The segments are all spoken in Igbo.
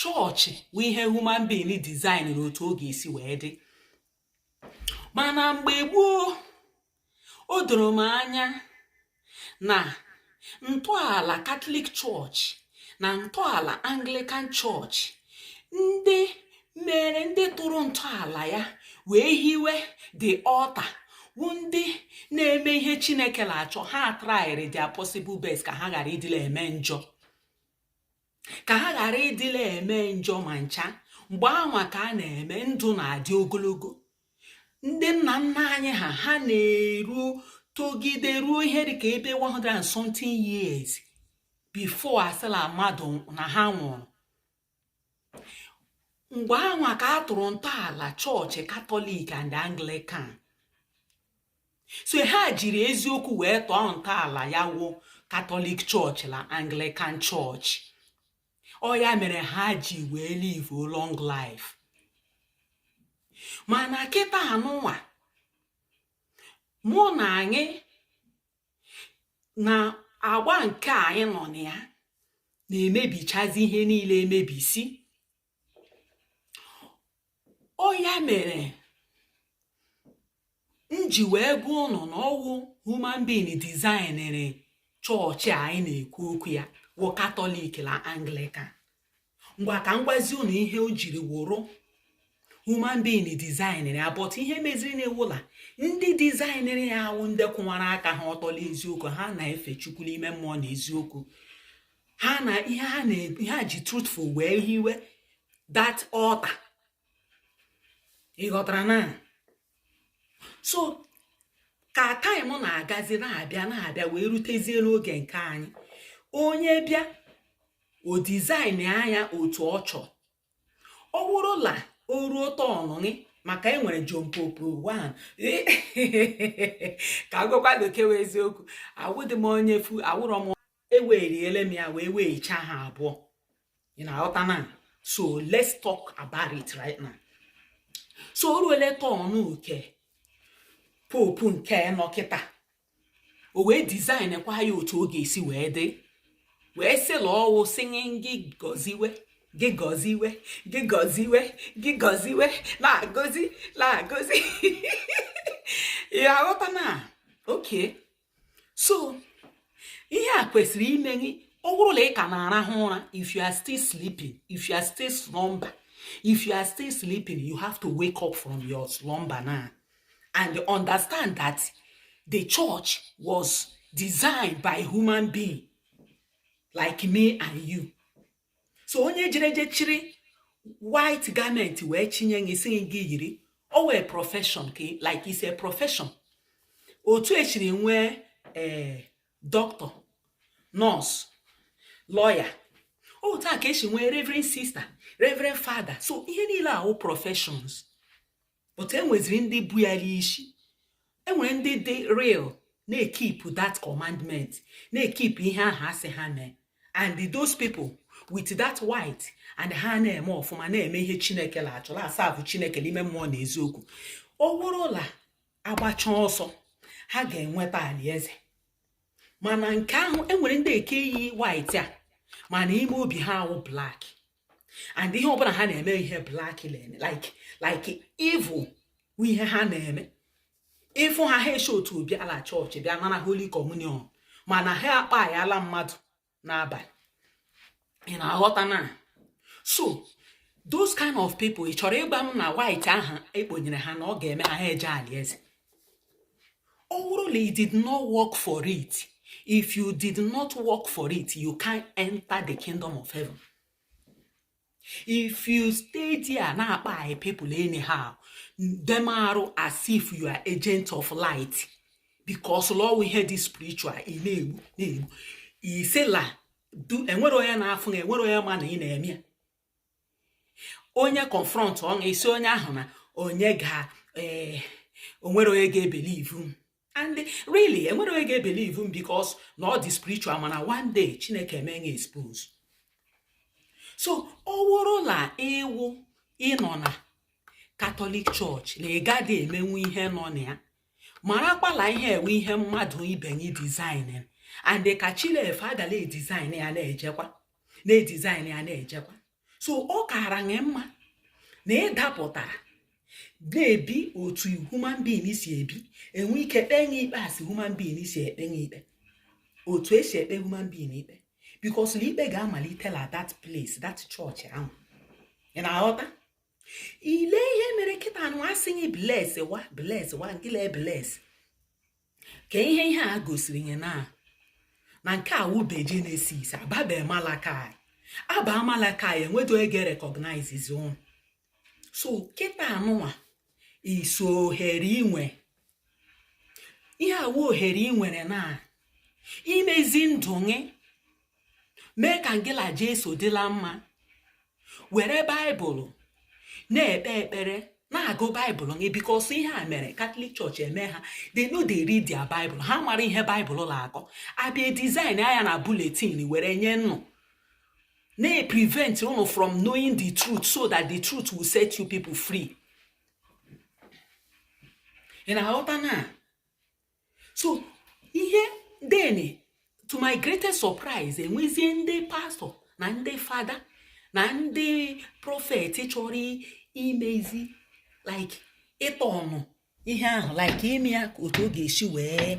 chọọchị wụ ihe human being design na otu ọ ga-esi wee dị mana mgbe gboo o doro m anya na ntọala katọlik chọọchị na ntọala anglikan chọọchị ndị mere ndị tụrụ ntọala ya wee hiwe the altar wụ ndị na-eme ihe chineke na-achọ ha traịrị their possible best ka ha ghara ịdị la-eme njọ ka ha ghara ịdị la-eme njọ ma ncha mgbe anwa ka a na-eme ndụ na-adị ogologo ndị nna nna anyị ha ha na-eru togide ruo ihe dịka ebe 100 and something years before a sị la mmadụ na ha nwụrụ mgbe anwa ka a tụrụ ntọala chọọchị katọlik and anglikan so ha jiri eziokwu wee tọọ ntọala ya wụ katọlik chọọchị na anglikan chọọchị ọ ya mere ha ji wee live long life mana kịta anụnwa mụ na anyị na agba nke anyị nọ na ya na-emebichazi ihe niile emebisi ọ ya mere m ji wee gwa ụnụ na ọ wụ human being dizainere chọọchị a anyị na-ekwu okwu ya wụ katọlik na anglikan ngwa ka m gwazi ụnụ ihe o jiri wụrụ human being dizainere ya but ihe mezirinụ wụ la ndị dizainere ya wụ ndị kwụwara aka ha ọtọ la eziokwu ha na-efe chukwu n'ime mmụọ na eziokwu ha na ihe ha na ihe ha ji truthful wee hiwe that altar ị ghọtara na so ka taịm na-agazi na-abịa na-abịa wee rutezie n'oge nke anyị onye bịa o dizaịnịa ya otu ọ chọrọ ọ wụrụ la o ruo turn gị maka e nwere John Pope one ka a gwakwa bekee eziokwu awụdị m onye fu awụrọ m eweriele m ya wee weghacha ha abụọ ị na-aghọta na so let's talk about it right now so o ruole turn nke Pope nke nọ kịta o wee dizaịnkwa ya otu ọ ga-esi wee dị wee sị la ọ wụ sinye gị gọziwe gị gọziwe gị gọziwe gị gọziwe na-agọzi na-agọzi ya aghọta na okay so ihe a kwesịrị ime gị ọ wụrụ la ị ka na-arahụ ụra if you are still sleeping if you are still slumber if you are still sleeping you have to wake up from your slumber now and understand that the church was designed by human being like me and you so onye jere je chiri white garment wee chinye gị sị gị yiri ọ wụ profession ka like is a profession otu e siri nwee ee eh, doctor nurse lawyer otu a ka e siri nwee reverend sister reverend father so ihe niile a wụ professions but enweziri ndị bu ya n'isi enwere ndị dị real na-ekipụ that commandment na-ekipụ ihe ahụ a sị ha mee and those people with that white and ha na-eme ọfụma na-eme ihe chineke la-achọ la-aserve chineke n'ime mmụọ na eziokwu ọ wụrụ la agbacha ọsọ ha ga-enweta alaeze mana nke ahụ enwere ndị nke yi white a mana ime obi ha awụ black and ihe ọbụla ha na-eme ihe black na-eme like like evil ihe ha na-eme ị fụ ha ha esi otu ahụ bịa la chọọchị bịa nara holy communion mana ha akpaịala mmadụ n'abalị ị na-aghọta na so those kind of people ị chọrọ ịgwa m na white ahụ e kponyere ha na ọ ga-eme ha ha eje alaeze ọ bụrụ na you did not work for it if you did not work for it you can't enter the kingdom of heaven if you stay there na-akpaị people anyhow dem arụ as if you are agent of light because la ọ wụ ihe dị spiritual ị na-egbu na-egbu ị sị la enwere onye na-afụ na enwere onye ma na ị na-eme ya onye confrontụọ gị ị sị onye ahụ na onye ga eh, o nwere onye ga-ebelieve m and really enwere onye ga-ebelieve m because na ọ dị spiritual mana one day chineke emee gị expose so ọ wụrụ na ị wụ ị nọ na katọlik chọọchị na ị gaghị emenwu ihe nọ na ya marakwa la ihe a wụ ihe mmadụ ibe gị design and ka chi la-efo a ga la-edesign ya na-ejekwa na-edesign ya na-ejekwa so ọ kaara gị mma na ị dapụtara na-ebi otu human being si ebi e nwee ike kpee gị ikpe as human being si ekpe gị ikpe otu e si ekpe human being ikpe because na ikpe ga-amalite la that place that church ahụ ị na-aghọta ile ihe mere kịta a nụwa a sị gị bless wa bless wa ngị la-ebless ka ihe ihe a gosiri gị na na nke a wụ be genesis a babe malachi a ba malachi enweghị onye ga-erecognizezi ụnụ so kịta a nụnwa iso ohere ị nwe ihe a wụ ohere ị nwere na imezi ndụ gị mee ka ngị la jesu dị la mma were baịbụl na-ekpe ekpere na-agụ baịbụl gị because ihe a mere katọlik chọọchị eme ha they no dey read their baịbụl ha mara ihe baịbụl na-akọ abịa design ya na bulletin were nye unu na-prevent unu from knowing the truth so that the truth will set you people free ị na-aghọta na so ihe then to my greatest surprise e nwezie ndị pastọ na ndị fada na ndị prọfet chọrọ imezi like iturn ihe ahụ like ime ya otu ọ ga-esi wee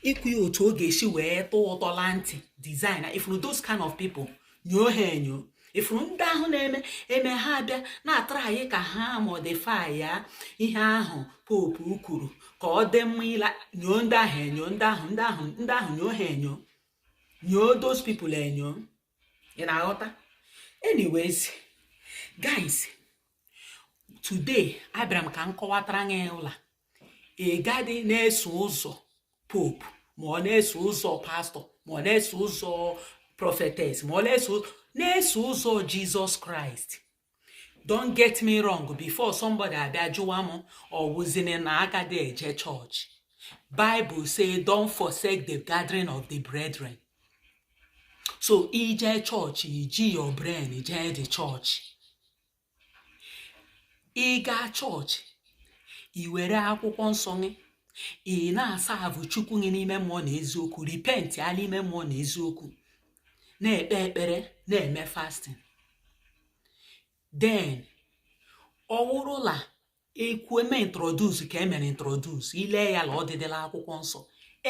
ikwu ya otu ọ ga-esi wee tọọ ụtọ la ntị design ị fụrụ those kind of people nyoo ha enyo ị fụrụ ndị ahụ na-eme eme ha abịa na-atry ka ha modify ya ihe ahụ popu kwuru ka ọ dị mma ịla nyoo ndị ahụ enyo ndị ahụ nyoo ha enyo nyoo those people enyo ị na-aghọta anyways guys today abịara m ka m kọwatara gị la ị gadị na-eso ụzọ popu ma ọ na-eso ụzọ pastọ ma ọ na-eso ụzọ prọfetes ma ọ na-eso ụzọ jizọs kraịst don't get me wrong before somebody abịa jụwa m ọ wụzini na a gadị eje chọọchị bible say don't forsake the gathering of the brethren so i je chọọchị i ji your brain jee the chọọchị ị gaa chọọchị i were akwụkwọ nsọ gị ị na-aserve chukwu gị n'ime mmụọ na eziokwu repentịa la ime mmụọ na eziokwu na-ekpe ekpere na-eme fasting then ọ wụrụ la ekwu eme introduce ka e mere introduce i lee ya la ọ dịdị la akwụkwọ nsọ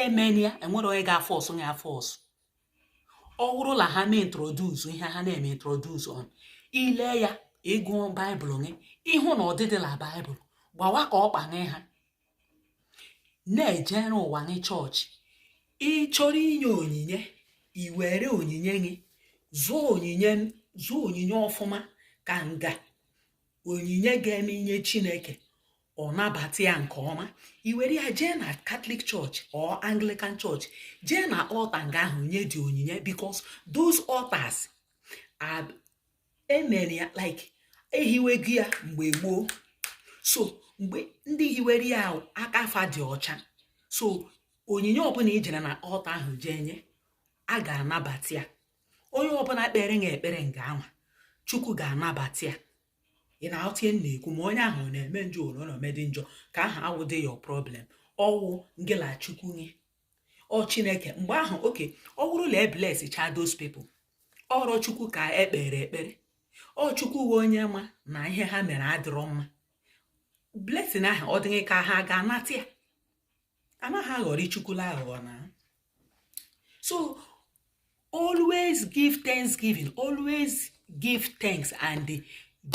emena ya e nwere onye ga-aforce gị aforce ọ bụrụ na ha mee introduce ihe ha na-eme introduce and i lee ya ị gụọ baịbụl gị ị hụ na ọ dịdị la baịbụl gbawa ka ọ kpanye ha na-ejere ụwa gị chọọchị ị chọrọ inye onyinye i were onyinye gị zụọ onyinye ọfụma ka nga onyinye ga-eme i nye chineke ọ nabata ya nke ọma i were ya jee na katọlik chọọchị or anglikan chọọchị jee na altar nga ahụ nye the onyinye because those altars e mere ya like e hiwego ya mgbe gboo so mgbe ndị hiwere ya aka fa dị ọcha so onyinye ọbụla i jere na altar ahụ jee nye a ga-anabata ya onye ọbụla kpere na ekpere nga anwa chukwu ga-anabata ya ị na-aghọta ihe m na-ekwu ma onye ahụ ọ na-eme njọ ole ọ na-eme dị njọ ka aha awụdị your problem ọ wụ ngị la chukwu nye ọ chineke mgbe ahụ okay ọ bụrụ na ebles cha those people ọrọ chukwu ka ekpere ekpere ọ chukwu wụ onye ma na ihe ha mere adịrọ mma blessing ahụ ọ dịghị ka ha ga-anata ya anaghị aghọrị chukwula aghụghọ na so always give thanksgiving always give thanks and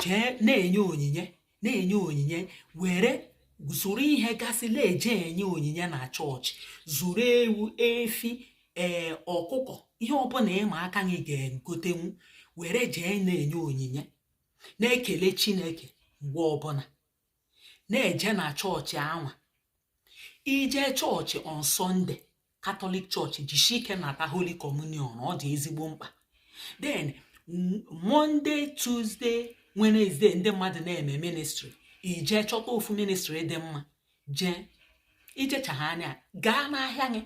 jee na-enye onyinye na-enye onyinye were zụrụ ihe gasị na-eje enye onyinye na chọọchị zụrụ ewu efi ee eh, ọkụkọ ihe ọbụla ị ma aka gị ga-egotenwu were jee na-enye onyinye na-ekele chineke mgbe ọbụla na-eje na chọọchị anwa ije chọọchị on sunday catholic church jishi ike nata holy communion ọ dị ezigbo mkpa then monday tuesday wednesday ndị mmadụ na-eme ministry ije chọta ofu ministry dị mma jee ijecha ha anya gaa n'ahịa gị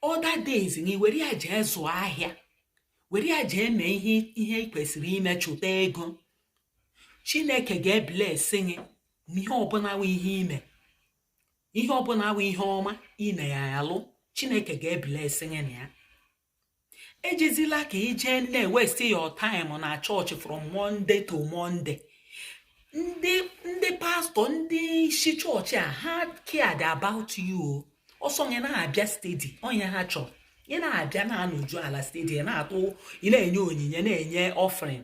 other days na iwere ya jee zụọ ahịa were ya jee mee ihe ihe ị kwesịrị ime chụta ego chineke ga-eblesị gị n'ihe ọbụla wụ ihe ime ihe ọbụla wụ ihe ọma ị na-alụ chineke ga-eblesị gị na ya ejezila ka ije na-ewesti your time na chọọchị from monday to monday ndị ndị pastor ndị isi chọọchị a ha cared about you ọ sọ gị na-abịa steady wụ ihe ha chọrọ ị na-abịa na-anọju ala steady na-atụ ị na-enye onyinye na-enye offering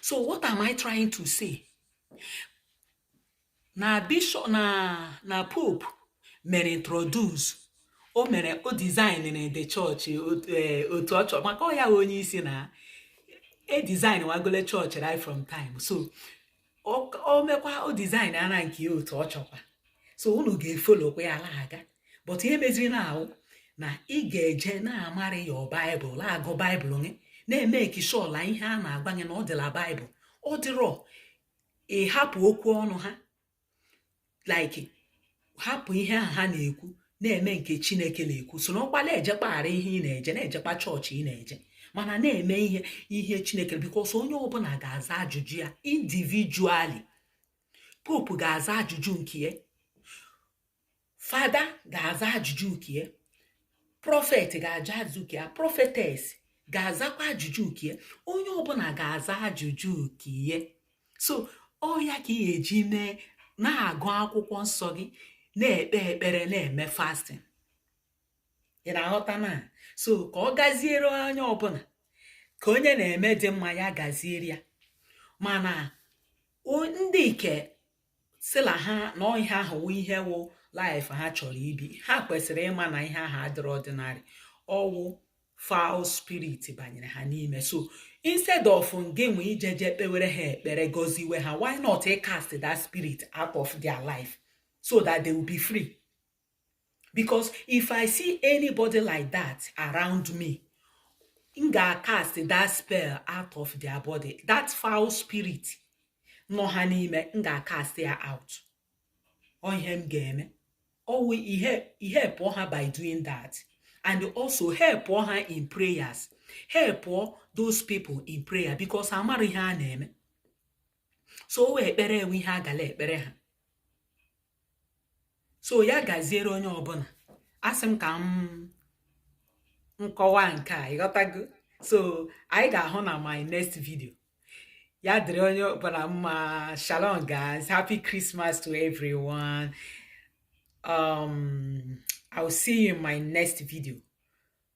so what am i trying to say na bishop na na pope mere introduce o mere o design na the church otu eh, ọ chọrọ maka ọ ya onye isi na e design wagole church right from time so o mekwa o design ara nke ya otu ọ chọkwa so unu ga-efolokwa ya la-aga but ihe meziri now wụ na ị ga-eje na-amara your bible la-agụ bible gị na-emeki sure la ihe a na-agwa gị na ọ dị la bible ọ dịrọ ị hapụ okwu ọnụ ha like hapụ ihe ahụ ha na-ekwu na-eme nke chineke na-ekwu so nọkwa na-ejekpaghara ihe ị na-eje na-ejekpa chọọchị ị na-eje mana na-eme ihe ihe chineke because onye ọbụla ga-aza ajụjụ ya individually pope ga-aza ajụjụ nke ya fada ga-aza ajụjụ nke ya prophet ga-aza ajụjụ nke ya prophetess ga-azakwa ajụjụ nke ya onye ọbụla ga-aza ajụjụ nke ya so ọ ya ka ị ga-eji mee na-agụ akwụkwọ nsọ gị na-ekpe ekpere na-eme fasting ị na-aghọta na so ka ọ gaziere onye ọbụla ka onye na-eme dị mma ya gaziere ya mana ndị ke sịla ha na ihe ahụ wụ ihe wụ life ha chọrọ ibi ha kwesịrị ịma na ihe ahụ adịrọ ordinary ọ wụ foul spirit banyere ha n'ime so instead of gị nwa ijeje kpewere ha ekpere gọziwe ha why not cast that spirit out of their life so that they will be free because if i see anybody like that around me m ga-cast that spell out of their body that foul spirit nọ ha n'ime m ga-cast ya out ọ ihe m ga-eme ọ wụ ị helpụọ ha by doing that and also helpụọ ha in prayers helpụọ those people in prayer because amara ihe a na-eme so ọ wụ ekpere enwe ihe a gala ekpere ha so ya gaziere onye ọbụla asị m ka m kọwaa nke a ị ghọtago so anyị ga-ahụ na my next video ya dịrị onye ọbụla mma shalom guys happy christmas to everyone um i'll see you in my next video